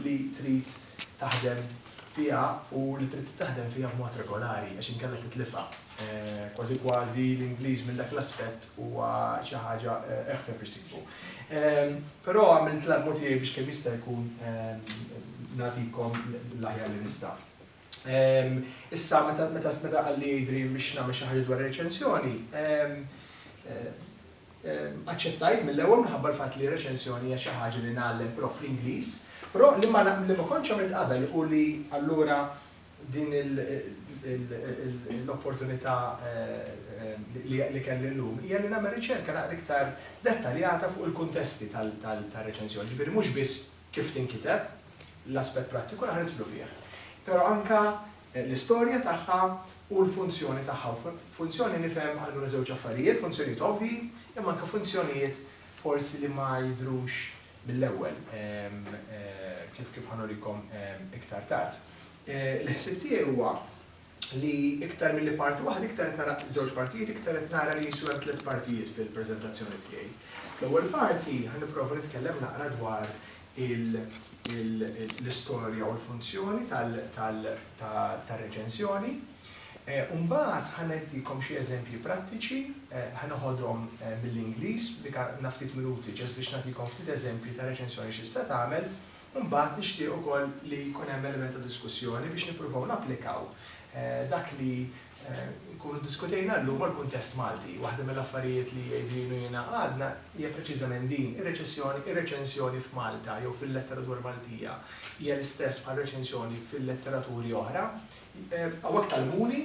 li trid taħdem fiha u li trid taħdem fiha b'mod regolari għax inkella titlifha. Kważi kważi l-Ingliż minn dak l-aspett huwa xi ħaġa eħfef biex tiksbu. Però għamilt l-almu tiegħi biex kemm jista' jkun nagħtikom l-aħjar li nista'. Issa meta meta qalli Adrian biex nagħmel xi ħaġa dwar ir-reċensjoni, Aċċettajt mill-ewwel minħabba l-fatt li reċensjoni hija xi ħaġa li ngħallem però fl-Ingliż, però li ma li ma kontx għamilt qabel u li allura din il il l-opportunità li li kelli llum hija li nagħmel riċerka naqra iktar dettaljata fuq il-kuntesti tal tar-reċensjoni, ġifieri mhux biss kif tinkiteb, l-aspett prattiku naqra nidħlu fih, però anke l-istorja tagħha u l-funzjoni tagħha. U funzjoni nifhem allura żewġ affarijiet, funzjonijiet ovvji, imma anke funzjonijiet forsi li ma jidhrux mill-ewwel, kif ħa nurikom iktar tard. Il-ħsieb tiegħi huwa li iktar milli parti waħda, iktar qed nara żewġ partijiet, iktar qed nara li qisu hemm tliet partijiet fil-preżentazzjoni tiegħi. Fl-ewwel parti ħa nipprova nitkellem naqra dwar l-istorja u l-funzjoni tar-reċensjoni. U mbagħad ħa ngħidilkom xi eżempji prattiċi, ħa noħodhom mill-Ingliż, dik għandna ftit minuti ġast biex nagħtikom ftit eżempji ta' reċensjoni x'tista' tagħmel, u mbagħad nixtieq ukoll li jkun hemm element ta' diskussjoni biex nippruvaw napplikaw dak li Inkunu ddiskutejna llum mal-kuntest Malti. Waħda mill-affarijiet li Adrian u jiena għadna hija preċiżament din, ir-reċessjoni, ir-reċensjoni f'Malta jew fil-letteratura Maltija hija l-istess bħar-reċensjoni fil-letteraturi oħra. Hawnhekk tgħallmuni,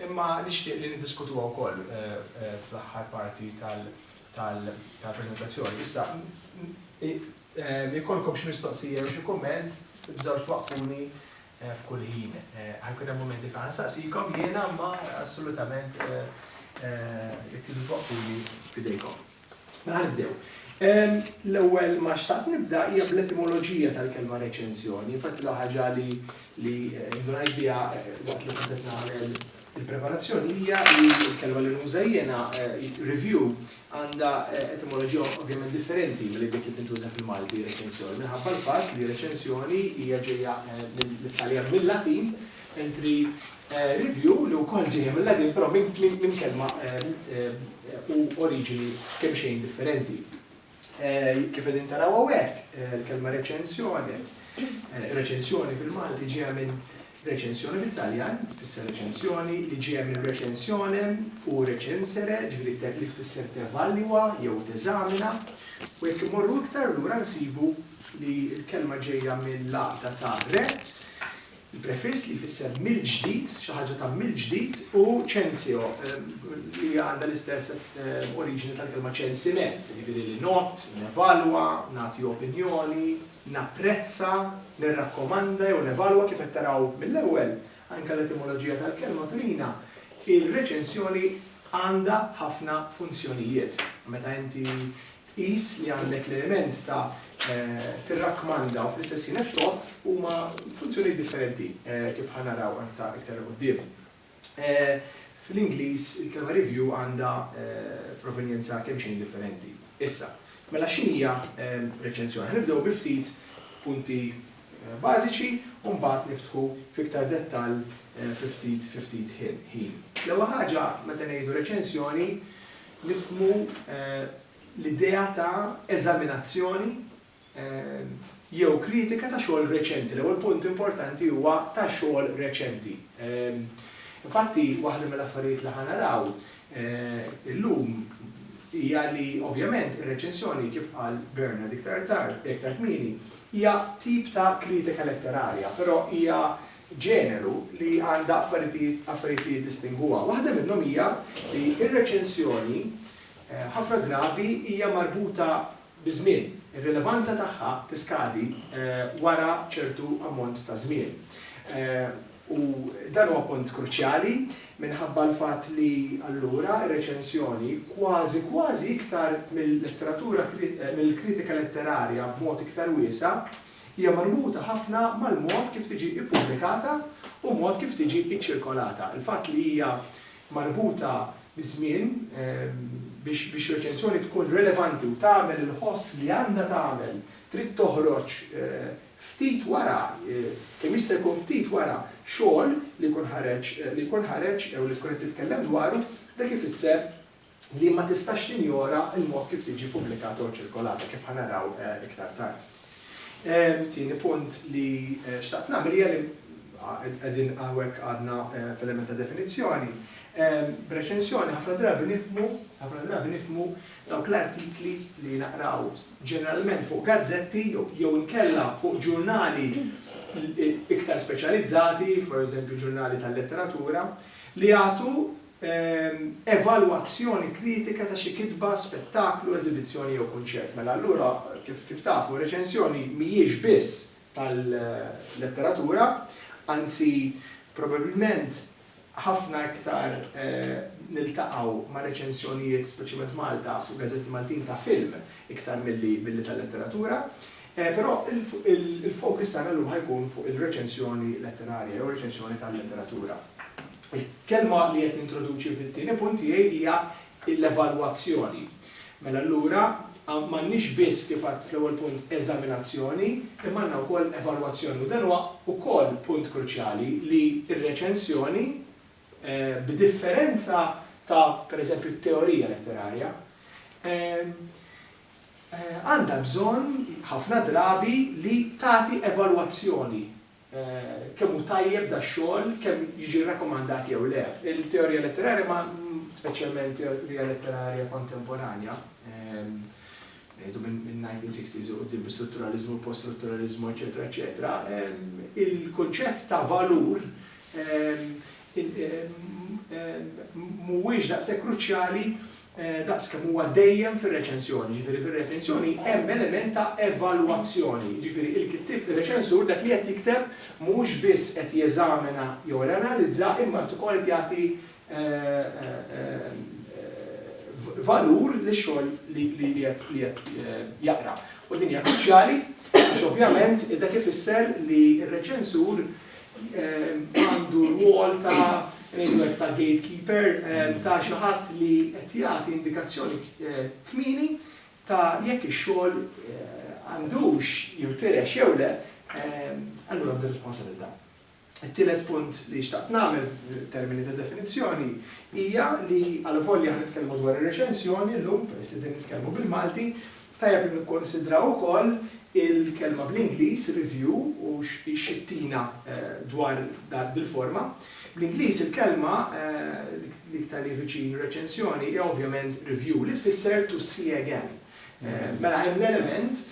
imma nixtieq li niddiskutuha wkoll fl-aħħar parti tal-preżentazzjoni. Issa, jekk jkollkom xi mistoqsija jew xi kumment, tibżgħux twaqqfuni f'kull ħin. Ħajkun hemm mumenti fejn ħansaqsikom jiena imma assolutament jekk tridu twaqqfuli f'idejkom. Mela ħa nibdew. L-ewwel ma xtaqt nibda hija bl-etimoloġija tal-kelma reċensjoni. Infatti l-ewwel ħaġa li indunajt biha waqt li kont qed nagħmel Il-preparazzjoni hija li l-kelma li nuża jiena, review, għandha etimoloġija ovvjament differenti milli dik li tintuża fil-Malti, reċensjoni, minħabba l-fatt li reċensjoni hija ġejja mit-Taljan, mil-Latin, mentri review, li wkoll ġejja mil-Latin, però minn kelma u oriġini kemxejn differenti. Kif qegħdin taraw hawnhekk, il-kelma reċensjoni, reċensjoni fil-Malti ġejja minn reċensjoni bit-Taljan, tfisser reċensjoni, li ġejja minn recensionem u recensere, ġifieri li tfisser tevalwa jew teżamina, u jekk immorru iktar lura nsibu li l-kelma ġejja mill-għaqda ta' re, Il-prefiss li jfisser mill-ġdid, xi ħaġa ta' mill-ġdid, u censeo, li għandha l-istess oriġini tal-kelma ċensiment, jiġifieri li ngħodd, nevalwa, nagħti opinjoni, napprezza, nirrakkomanda jew nevalwa, kif qed taraw mill-ewwel, anke l-etimoloġija tal-kelma turina, ir-reċensjoni għandha ħafna funzjonijiet. Meta inti tqis li għandek l-element ta' tirrakkmanda u fl-istess ħin qed tgħodd huma funzjonijiet differenti kif ħa naraw aktar iktar 'il quddiem. Fl-Ingliż il-kelma review għandha provenjenza kemmxejn differenti. Issa, mela x'inhija reċenzjoni? Ħa nibdew bi ftit punti bażiċi u mbagħad niftħu f'iktar dettall fi ftit fi ftit ħin. L-ewwel ħaġa meta ngħidu reċenzjoni Nifhmu l-idea ta' eżaminazzjoni jew kritika ta' xogħol reċenti. L-ewwel punt importanti huwa ta' xogħol reċenti. Infatti, waħda mill-affarijiet li ħa naraw illum hija li ovvjament ir-reċensjoni, kif qal Bernard iktar tard, iktar kmieni, hija tip ta' kritika letterarja, però hija ġeneru li għandha affaritijiet affarijiet li jiddistingwuha. Waħda minnhom hija li r-reċensjoni ħafna drabi hija marbuta biż-żmien. Ir-rilevanza tagħha tiskadi wara ċertu ammont ta' żmien. U dan huwa punt kruċjali minħabba l-fatt li allura r-reċensjoni kważi kważi iktar mill-letteratura mill-kritika letterarja b'mod iktar wiesa' Hija marbuta ħafna mal-mod kif tiġi ppubblikata u mod kif tiġi ċċirkolata. Il-fatt li hija marbuta biż-żmien biex biex reċensjoni tkun relevanti u tagħmel il-ħoss li għandha tagħmel trid toħroġ ftit wara, kemm jista' jkun ftit wara xogħol li jkun ħareġ li jkun ħareġ jew li tkun qed titkellem dwaru, dak ifisser li ma tistax tinjora l-mod kif tiġi ppubblikata u ċirkolata, kif ħa naraw iktar tard. Tieni punt li xtaqt nagħmel hija li qegħdin hawnhekk għadna f'element ta' definizzjoni. B'reċensjoni ħafna drabi nifhmu, ħafna drabi nifhmu dawk l-artikli li naqraw ġeneralment fuq gazzetti jew inkella fuq ġurnali iktar speċjalizzati, pereżempju ġurnali tal-letteratura, li jagħtu evalwazzjoni kritika ta' xi kitba, spettaklu, eżibizzjoni jew kunċert. Mela allura, kif kif tafu, reċensjoni mhijiex biss tal-letteratura, anzi probabilment ħafna iktar niltaqgħu ma' reċensjonijiet, speċjalment Malta, fuq gazzetti Maltin ta' film iktar milli milli tal-letteratura. Però il-fokus tagħna llum ħa jkun fuq il-reċensjoni letterarja jew reċensjoni tal-letteratura. Il-kelma li qed nintroduċi fit-tieni punt tiegħi hija l-evalwazzjoni. Mela allura m'għandniex biss, kif għidt fl-ewwel punt, eżaminazzjoni, imma għandna wkoll evalwazzjoni. U dan huwa wkoll punt kruċjali li r-reċensjoni, b'differenza ta' pereżempju t-teorija letterarja, għandha bżonn ħafna drabi li tagħti evalwazzjoni kemm hu tajjeb dax-xogħol, kemm jiġi rrakomandat jew le. Il-teorija letterarja ma, speċjalment teorija letterarja kontemporanja, ngħidu min-1960s 'il quddiem bis-strutturaliżmu, il-post-strutturaliżmu, eċċetera, eċċetera, il-kunċett ta' valur mhuwiex daqshekk kruċjali daqs kemm huwa dejjem fir-reċensjoni, jiġifieri fir-reċensjoni hemm element ta' evalwazzjoni, jiġifieri il-kittieb, ir-reċensur, dak li qed jikteb mhuwiex biss qed jeżamina jew qed janalizza imma qed ukoll qed jagħti valur lix-xogħol li qed jaqra. U din hija kruċjali għax ovvjament dak ifisser li r-reċensur għandu rwol ta' ngħidu hekk ta' gatekeeper, ta' xi ħadd li qed jagħti indikazzjoni kmieni ta' jekk ix-xogħol għandux jinfirex jew le, allura għandu responsabilità. It-tielet punt li xtaqt nagħmel f'termini ta' definizzjoni hija li għalvolja aħna nitkellmu dwar ir-reċensjoni llum, peress li qegħdin nitkellmu bil-Malti, Tajjeb li nikkunsidraw ukoll il-kelma bl-Ingliż review u xi ttina dwar dil-forma. Bl-Ingliż il-kelma l-iktar li hi viċin reċensjoni hi ovvjament review li tfisser to see again. Mela hemm l-element,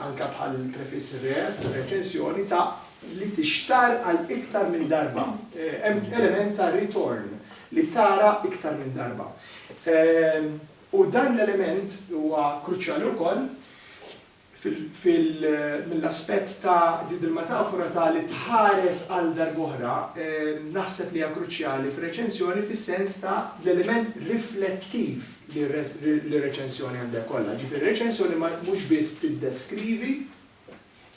anke bħall-prefiss re fir-reċensjoni, ta' li tixtarr għal iktar minn darba. Hemm element ta' ritorn, li tara iktar minn darba. U dan l-element huwa kruċjali wkoll mill-aspett ta' din il-metafora ta' li tħares għal darb'oħra, naħseb li hija kruċjali fir-reċensjoni fis-sens ta' l-element riflettiv li r-reċensjoni għandha jkollha. Jiġifieri r-reċensjoni mhux biss tiddeskrivi,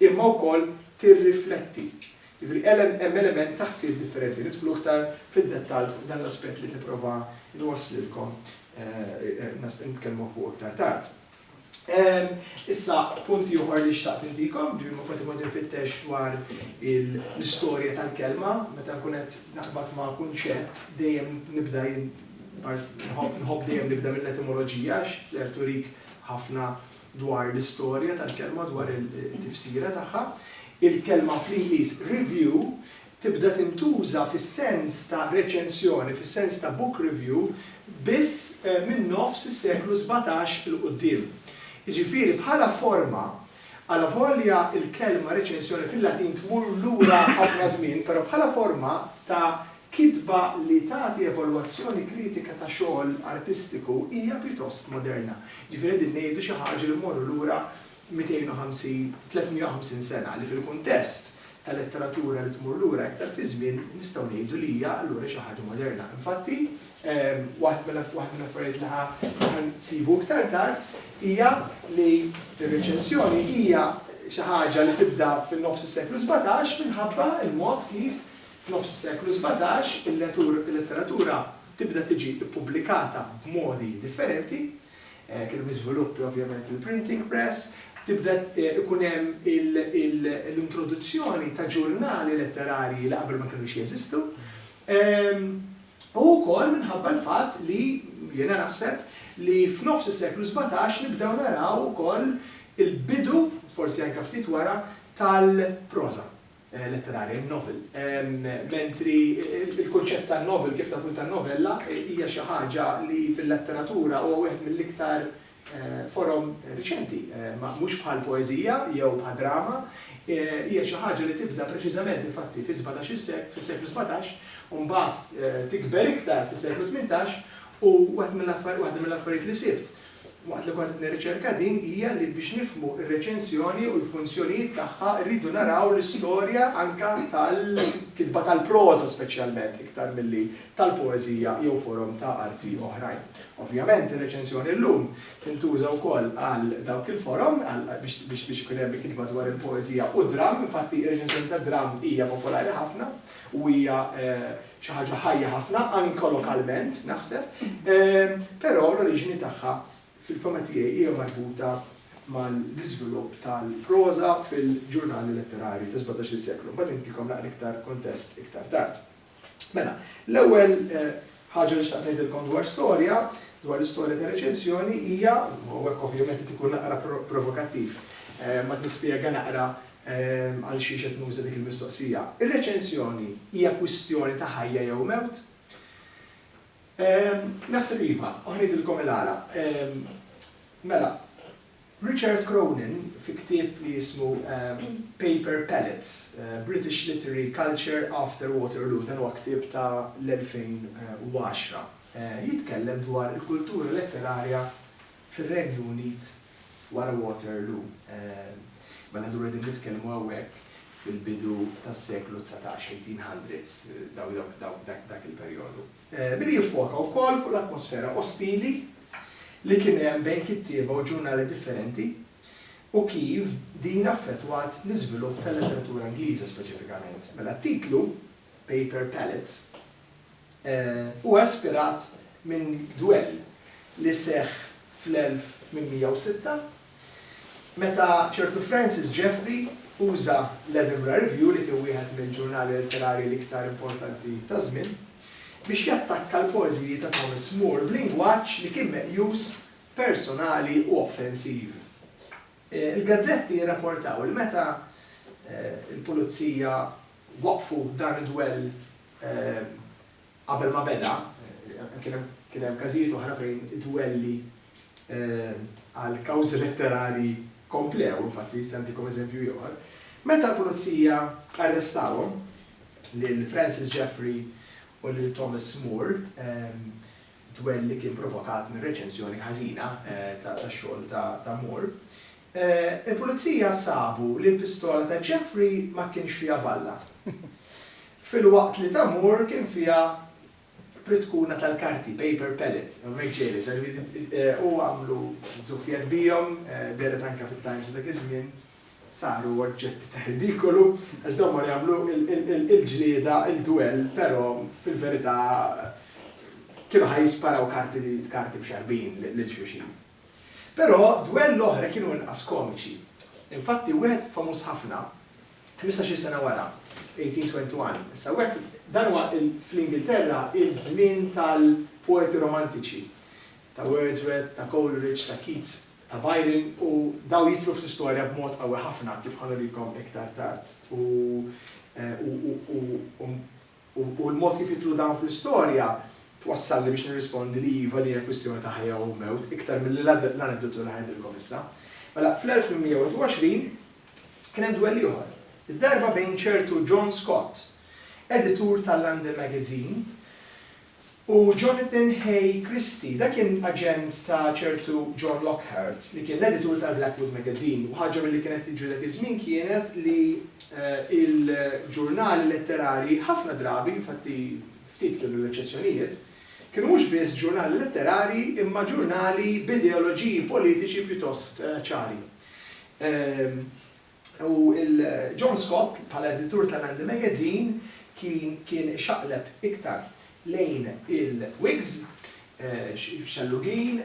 imma wkoll tirrifletti. Jiġifieri hemm element ta' ħsieb differenti. Nidħlu iktar fid-dettall fuq dan l-aspett li nipprova nwasslilkom nitkellmu fuqu iktar tard. Issa punt ieħor li xtaqt intikom, ġifieri meta kont imur infittex dwar l-istorja tal-kelma, meta nkun qed naqbad ma' kunċett dejjem nibda jien nħobb dejjem nibda mill-etimoloġija għax tturik ħafna dwar l-istorja tal-kelma, dwar it-tifsira tagħha, il-kelma fl-Ingliż review tibda tintuża fis-sens ta' reċensjoni, fis-sens ta' book review, biss minn nofs is-seklu sbatax 'il quddiem. Jiġifieri bħala forma, alavolja l-kelma reċensjoni fil-Latin tmur lura ħafna żmien, però bħala forma ta' Kitba li tagħti evalwazzjoni kritika ta' xogħol artistiku hija pjuttost moderna. Jiġifieri qegħdin ngħidu xi ħaġa li mmorru lura 250, 350 sena, li fil-kuntest ta' letteratura li tmur lura iktar fiż-żmien nistgħu ngħidu li hija allura xi ħaġa moderna. Infatti, waħed waħda mill-affarijiet li ħa ħa nsibu iktar tard hija li r-reċensjoni hija xi ħaġa li tibda fin-nofs is-seklu sbatax minħabba l-mod kif F'nofs is-seklu sbatax, il-letteratura tibda tiġi ppubblikata b'modi differenti. Kien hemm iżviluppi ovvjament fil-printing press, tibda jkun hemm l-introduzzjoni ta' ġurnali letterarji li qabel ma kinux jeżistu, u wkoll minħabba l-fatt li, jiena naħseb, li f'nofs is-seklu sbatax nibdew naraw ukoll il-bidu, forsi anke ftit wara, tal-proża. letterarja, in-novel. Mentri l-kunċett ta' novel, kif tafu ta' novella, hija xi ħaġa li fil-letteratura huwa wieħed mill-iktar forom riċenti, mhux bħal poeżija jew bħal drama, hija xi ħaġa li tibda preċiżament infatti fis-sbatax-il seklu, fis-seklu sbatax, u mbagħad tikber iktar fis-seklu tmintax, u waħda mill-affarijiet li sibt waqt li kont qed nirriċerka din hija li biex nifhmu r-reċensjoni u l-funzjonijiet tagħha rridu naraw l-istorja anke tal-kitba tal-proża speċjalment iktar milli tal-poeżija jew forom ta' arti oħrajn. Ovvjament ir-reċensjoni llum tintuża wkoll għal dawk il-forom biex biex ikun hemm kitba dwar il-poeżija u d-dramm, infatti r-reċensjoni tad-dramm hija popolari ħafna u hija xi ħaġa ħajja ħafna, anke lokalment, naħseb, però l-oriġini tagħha fil-fehma tiegħi hija marbuta mal-iżvilupp tal-proża fil-ġurnali letterarji tas-17-il seklu. Imbagħad intikom naqra iktar kuntest iktar tard. Mela, l-ewwel ħaġa li xtaqt ngħidilkom dwar storja, dwar l-istorja ta' reċensjoni hija, u hekk ovvjament qed ikun naqra provokattiv, ma nispjega naqra Għalxiex qed nuża dik il-mistoqsija? Ir-reċensjoni hija kwistjoni ta' ħajja jew mewt? Naħseb iva, u ħa ngħidilkom il-għala. Mela, Richard Cronin fi ktieb li jismu Paper Pellets, British Literary Culture After Waterloo, dan huwa ktieb ta' l-2010, jitkellem dwar il-kultura letterarja fir-Renju Unit wara Waterloo, mela allura qegħdin nitkellmu hawnhekk fil-bidu tas-seklu dsatax, eighteen hundreds, dak il-perjodu. Billi jiffoka wkoll fuq l-atmosfera ostili li kien hemm bejn kittieba u ġurnali differenti u kif din affettwat l-iżvilupp tal-letteratura Ingliża speċifikament. Mela t-titlu Paper Pallets, huwa ispirat minn dwell li seħħ fl-1806 meta ċertu Francis Jeffrey uża l-Edinburgh Review, li kien wieħed mill-ġurnali letterarji l-iktar importanti taż-żmien, biex jattakka l-poeżiji ta' Thomas Moore b'lingwaġġ li kien meqjus personali u offensiv. Il-gazzetti rraportaw li meta l-pulizija waqqfu dan id-dwell qabel ma beda, kien hemm każijiet oħra fejn id-dwelli għal kawżi letterarji komplew, infatti se ntikom eżempju ieħor, meta l-pulizija arrestawhom, lil Francis Jeffrey u lil Thomas Moore, dwell li kien provokat mir-reċensjoni ħażina tax-xogħol ta' Moore, Il-Pulizija sabu li l-pistola ta' Jeffrey ma kienx fiha balla, filwaqt li ta' Moore kien fiha pritkuna tal-karti, paper pellet, u għamlu żuffiet bihom, dehret anke fit-Times ta' dak iż-żmien, saru oġġetti ta' ridikolu għax dawn mar jagħmlu l-ġlieda, il-dwell, però fil-verità kienu ħa jisparaw karti b'xarbin lil xulxin. Però dwell l-oħra kienu inqas komiċi. Infatti wieħed famuż ħafna, ħmistax-il sena wara, 1821, issa hawnhekk, dan huwa fl-Ingilterra iż-żmien tal-poeti romantiċi, ta' Wordsworth, ta' Coleridge, ta' Keats, ta' Byron, u dawn jidħlu fl-istorja b'mod qawwi ħafna, kif ħa nurikom iktar tard, u, u, u, u, u, U l-mod kif jidħlu dawn fl-istorja twassalni biex nirrispondi li iva din hija kwistjoni ta' ħajja u mewt iktar milli l-aneddotu li ħanidilkom issa. Mela, fl-1821 kien hemm dwell ieħor, id-darba bejn ċertu John Scott, editur tal-London Magazine, u Jonathan Hay Christie. Dan kien aġent ta' ċertu John Lockhart li kien l-editur tal-Blackwood Magazine u ħaġa milli kienet tiġri dak iż-żmien kienet li l-ġurnali letterarji ħafna drabi, infatti ftit kienu l-eċċezzjonijiet, kienu mhux biss ġurnali letterarji imma ġurnali b'ideoloġiji politiċi pjuttost ċari. U il-John Scott, bħala editur ta' Nandi Magazine, kien kien ixaqleb iktar lejn il-Whigs, xellugin,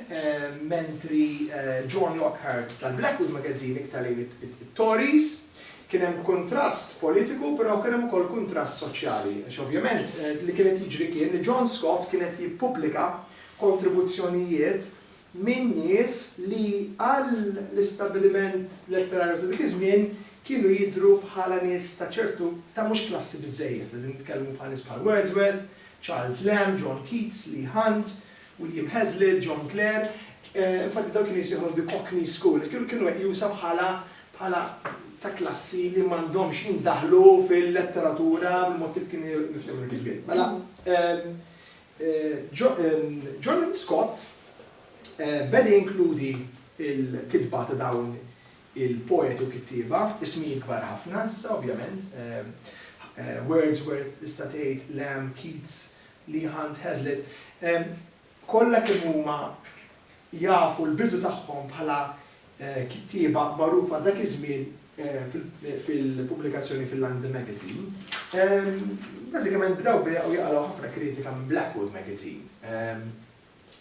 mentri John Lockhart tal-Blackwood Magazine iktar lejn it-Tories. Kien hemm kuntrast politiku, però kien hemm ukoll kuntrast soċjali, għax ovvjament li kien qed jiġri kien li John Scott kien qed jippubblika kontribuzzjonijiet minn nies li għall-istabbiliment letterarju ta' dik iż-żmien kienu jidhru bħala nies ta' ċertu ta' mhux klassi biżżejjed. Qegħdin nitkellmu bħal nies bħal Wordsworth, Charles Lamb, John Keats, Leigh Hunt, William Hazlitt, John Clare. Infatti dawn kienu jissejħulhom the Cockney School. Kienu meqjusa bħala bħala ta' klassi li m'għandhomx jindaħlu fil-letteratura bil-mod kif kien miftehma dak iż-żmien. Mela, John Scott beda jinkludi l-kitba ta' dawn il-poeti u kittieba, ismijiet kbar ħafna issa ovvjament, Wordsworth tista' tgħid, Lamb, Keats, Leigh Hunt, Hazlitt, kollha kemm huma jafu l-bidu tagħhom bħala kittieba magħrufa dak iż-żmien fil-pubblikazzjoni Finlande Magazine, bażikament bdew bejaqgħu jaqalgħu ħafna kritika minn Blackwood Magazine.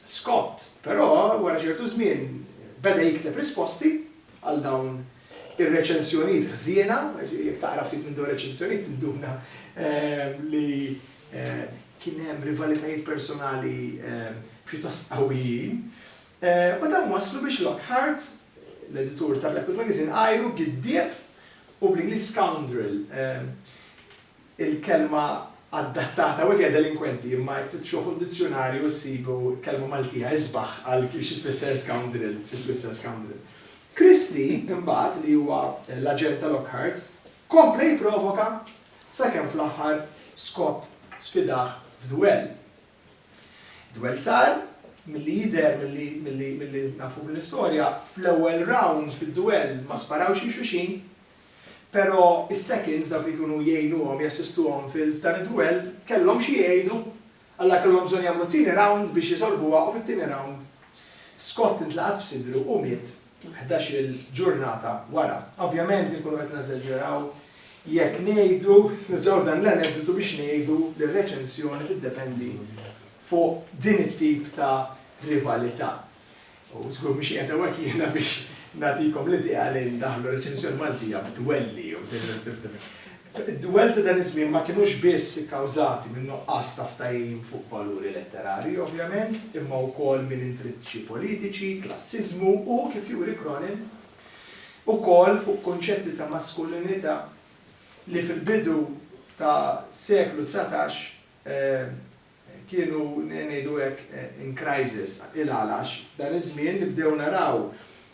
Scott, però, wara ċertu żmien beda jikteb risposti għal dawn ir-reċensjonijiet ħżiena, jekk taqra ftit minn dawn ir-reċensjonijiet tinduna li kien hemm rivalitajiet personali pjuttost qawwijin. U dawn wasslu biex Lockhart, l-editur ta' Blackwood Magazine, għajru giddieb u bl-Ingliż scoundrel, il-kelma adattata hawnhekk hija delinkwenti, imma jekk tfittxu fuq dizzjunarju issibu kelma Maltija isbaħ għal xi tfisser scoundrel, xi tfisser scoundrel. Christie, imbagħad, li huwa l-aġent ta' Lockhart, kompla jipprovoka sakemm fl-aħħar Scott sfidah f'duell. Dwell sar, milli jidher, milli nafu mill-istorja, fl-ewwel round fid-dwell ma sparawx lil xulxin, però s-seconds, dawk li jkunu jgħinuhom, jassistuhom f'dan id-dwell, kellhom xi jgħidu, alla kellhom bżonn jagħmlu t-tieni round biex isolvuha u fit-tieni round Scott intlaqat f'sidru u miet ħdax-il ġurnata wara. Ovvjament inkunu qed neżaġeraw jekk ngħidu, nużaw dan l-aneddotu biex ngħidu li r-reċensjoni tiddependi fuq din it-tip ta' rivalità. U żgur mhux qiegħed hawnhekk jiena biex nagħtikom l-idea li ndaħħlu reċensjoni Maltija b'dwelli jew Id-dwell ta' dan iż-żmien ma kinux biss ikkawżati minn nuqqas ta' ftajim fuq valuri letterarji, ovvjament, imma wkoll minn intriċċi politiċi, klassiżmu u, kif juri Cronin, ukoll fuq kunċetti ta' maskulinità li fil-bidu ta' seklu dsatax, kienu, ngħidu hekk, in crisis. Il-għala? Għax f'dan iż-żmien nibdew naraw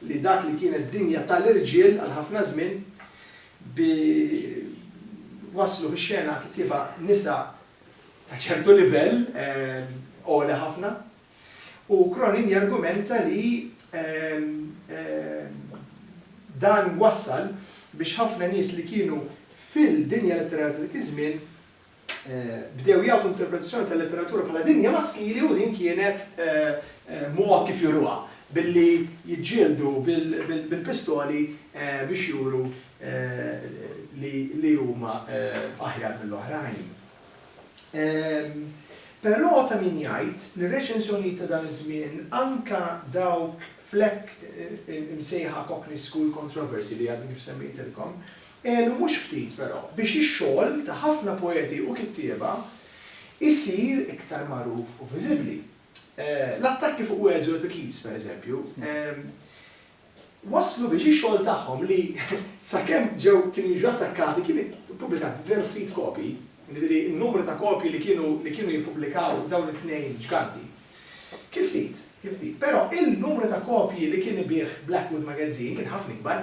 li dak li kienet dinja tal-irġiel għal ħafna żmien, bi, waslu fix-xena kittieba nisa ta' ċertu livell għoli ħafna. U Cronin jargumenta li dan wassal biex ħafna nies li kienu fil-dinja letterarja ta' dik iż-żmien, bdew jagħtu interpretazzjoni tal-letteratura bħala dinja maskili u din kienet mod kif juruha, billi jiġġieldu bil-pistoli biex juru li huma aħjar mill-oħrajn. Però ta' min jgħid li r-reċensjonijiet ta' dan iż-żmien, anke dawk fl-hekk imsejħa Cockney School Controversy li għadni kif semmejtilkom, Għenu mhux ftit, però, biex ix-xogħol ta' ħafna poeti u kittieba jsir iktar magħruf u viżibbli. L-attakki fuq Wells u Little Keats, pereżempju, wasslu biex ix-xogħol tagħhom li, sakemm ġew kienu jiġu attakkati, kien ippubblikat veru ftit kopji, jiġifieri n-numru ta' kopji li kienu li kienu jippubblikaw dawn it-tnejn ġganti, kien ftit, kien ftit. Però, il-numru ta' kopji li kien ibigħ Blackwood Magazine kien ħafna ikbar.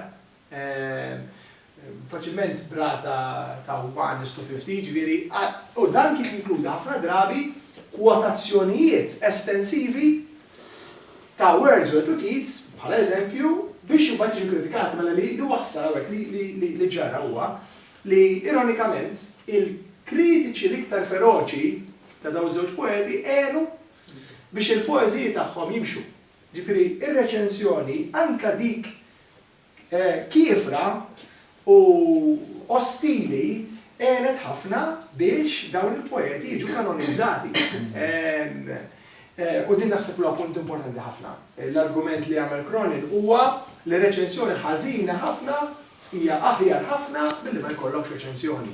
faċilment b'rata ta' 1 is to 50, ġifieri, u dan kien jinkluda ħafna drabi kwotazzjonijiet estensivi ta' Wordsworth u Keats, bħala eżempju, biex imbagħad jiġu kkritikati mela li wassal hawnhekk li li ġara huwa li ironikament il-kritiċi l-iktar feroċi ta' dawn iż-żewġ poeti għenu biex il-poeżiji tagħhom jimxu. Jiġifieri, ir-reċensjoni, anke dik kiefra u ostili, għenet ħafna biex dawn il-poeti jiġu kanonizzati. U din naħseb huwa punt importanti ħafna. L-argument li għamel Cronin huwa li reċensjoni ħażina ħafna hija aħjar ħafna milli ma jkollokx reċensjoni.